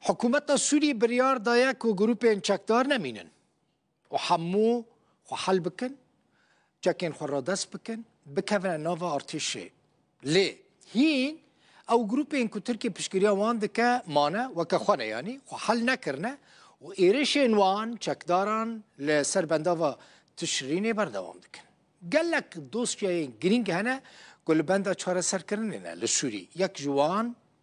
Hikûmeta Sûriyê biryar daye ku grûpên çekdar nemînin û hemû xwe hel bikin, çekên xwe radest bikin, bikevine nava artêşê. Lê hîn ew grûpên ku Tirkiye piştgiriya wan dike mane weke xwe ne yanî xwe hel nekirine û êrişên wan çekdaran li ser bendava Tişrînê berdewam dikin. Gelek dosyayên girîng hene ku li benda çareserkirinê ne li Sûriyê. Yek ji wan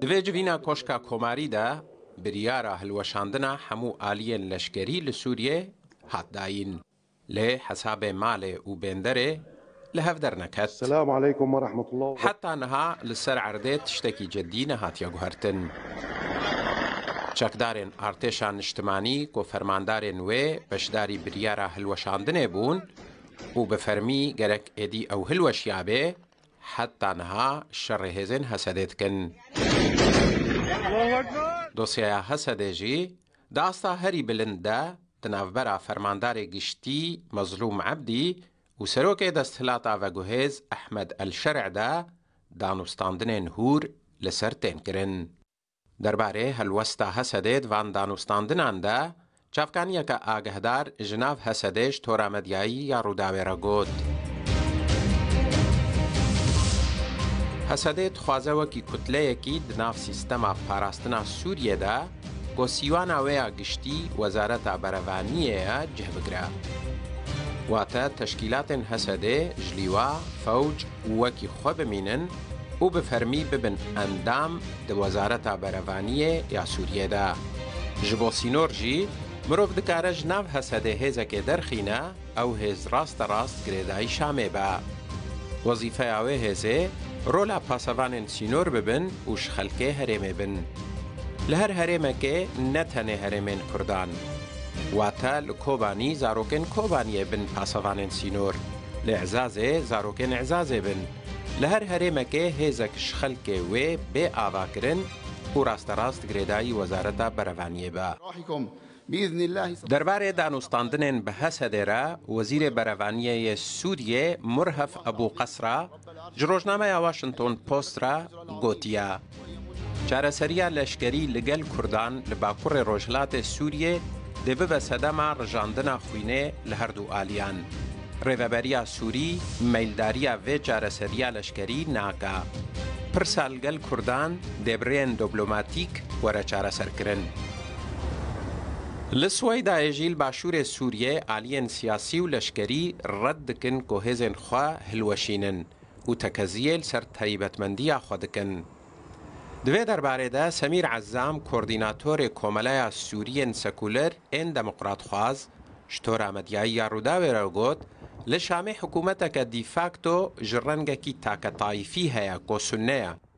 Di vê civîna Koşka Komarî de biryara hilweşandina hemû aliyên leşkerî li Sûriyeyê hat dayîn, lê hesabê malê û bênderê li hev derneket. Heta niha li ser erdê tiştekî cidî nehatiye guhertin. Çekdarên Artêşa Niştimanî ku fermandarên wê beşdarî biryara hilweşandinê bûn, Û bi fermî gerek êdî ew hilweşiyabe, heta niha şerê hêzên Hesedê dikin. Dosyeya Hesedê jî di asta herî bilind de di navbera Fermandarê Giştî Mezlûm Ebdî û Serokê Desthilata Veguhêz Ehmed El Şer'de danûstandinên hûr li ser tên kirin. Derbarê helwesta Hesedê di van danûstandinan de, çavkaniyeke agehdar ji nav Hesedê ji tora medyayî ya Rûdawê re got, Hesedê dixwaze wekî kutleyekî di nav sîstema parastina Sûriyê de ku sîwana wê ya giştî Wezareta Berevaniyê ye cih bigire. Wate teşkîlatên Hesedê ji lîwa, fewc, wekî xwe bimînin û bi fermî bibin endam di Wezareta Berevaniyê ya Sûriyê de. Ji bo sînor jî mirov dikare ji nav Hesedê hêzekê derxîne, ew hêz rasterast girêdayî Şamê be. Wezîfeya wê hêzê rola pasevanên sînor bibin û ji xelkê herêmê bin. Li her herêmekê ne tenê herêmên Kurdan. Wate li Kobanî zarokên Kobaniyê bin pasevanên sînor. Li Ezazê zarokên Ezazê bin. Li her herêmekê hêzek ji xelkê wê bê avakirin û rasterast girêdayî Wezareta Berevaniyê be. Derbarê danûstandinên bi Hesedê re Wezîrê Berevaniyê yê Sûriyê Murhef Ebû Qesra ji rojnameya Washington Post re gotiye, Çareseriya leşkerî li gel Kurdan li bakurê rojhilatê Sûriyê dê bibe sedema rijandina xwînê li her du aliyan. Rêveberiya Sûrî meyldariya vê çareseriya leşkerî naka. Pirsa li gel Kurdan dê bi rêyên doblomatîk were çareserkirin. Li Swêydayê jî li başûrê Sûriyê aliyên siyasî û leşkerî red dikin ku hêzên xwe hilweşînin. û tekeziyê li ser taybetmendiya xwe dikin. Di vê derbarê de Semîr Ezzam kordînatorê Komeleya Sûriyên Sekuler ên Demokratxwaz ji tora medyayî ya Rûdawê re got, Li Şamê hikûmeteke dîfakto ji rengekî taketaîfî heye ku sunne ye.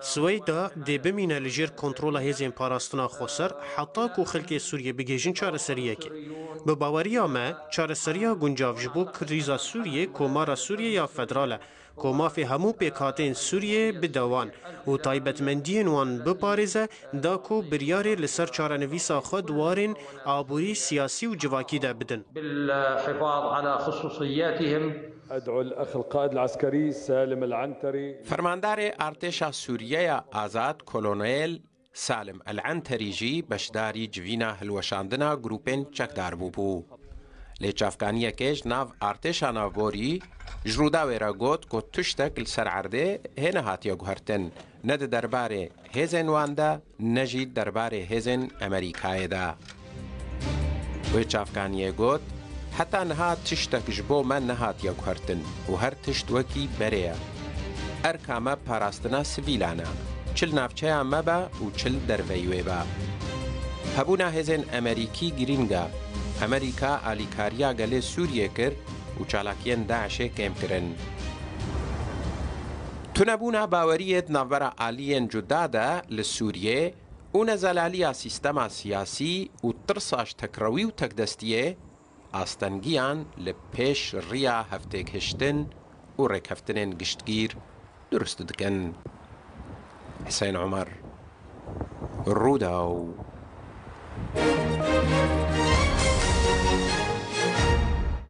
Swêda dê bimîne li jêr kontrola hêzên parastina xweser heta ku xelkê Sûriyê bigihêjin çareseriyekê. Bi baweriya me, çareseriya guncav ji bo krîza Sûriyê Komara Sûriyê ya Federal e ku mafê hemû pêkhatên Sûriyê bide wan û taybetmendiyên wan biparêze da ku biryarê li ser çarenivîsa xwe di warên aborî, siyasî û civakî de bidin. Fermandarê Artêşa Sûriyeya Azad Kolonel Salim Al-Enterî jî beşdarî civîna hilweşandina grûpên çekdar bûbû. Lê çavkaniyekê ji nav Artêşa Navborî ji Rûdawê re got ku tiştek li ser erdê hê nehatiye guhertin Ne di derbarê hêzên wan de ne jî di derbarê hêzên Amerîkayê de. Wê çavkaniyê got, Heta niha tiştek ji bo me nehatiye guhertin û her tişt wekî berê ye. Erka me parastina sivîlan e, çi li navçeya me be û çi li derveyî wê be. Hebûna hêzên Amerîkî girîng e. Amerîka alîkariya gelê Sûriyê kir û çalakiyên DAIŞ'ê kêm kirin. Tunebûna baweriyê di navbera aliyên cuda de li Sûriyê û nezelaliya sîstema siyasî û tirsa ji tekrewî û tekdestiyê, astengiyan li pêş riya hevtêgihiştin û rêkeftinên giştgîr durust dikin. Husên Omer, Rûdaw.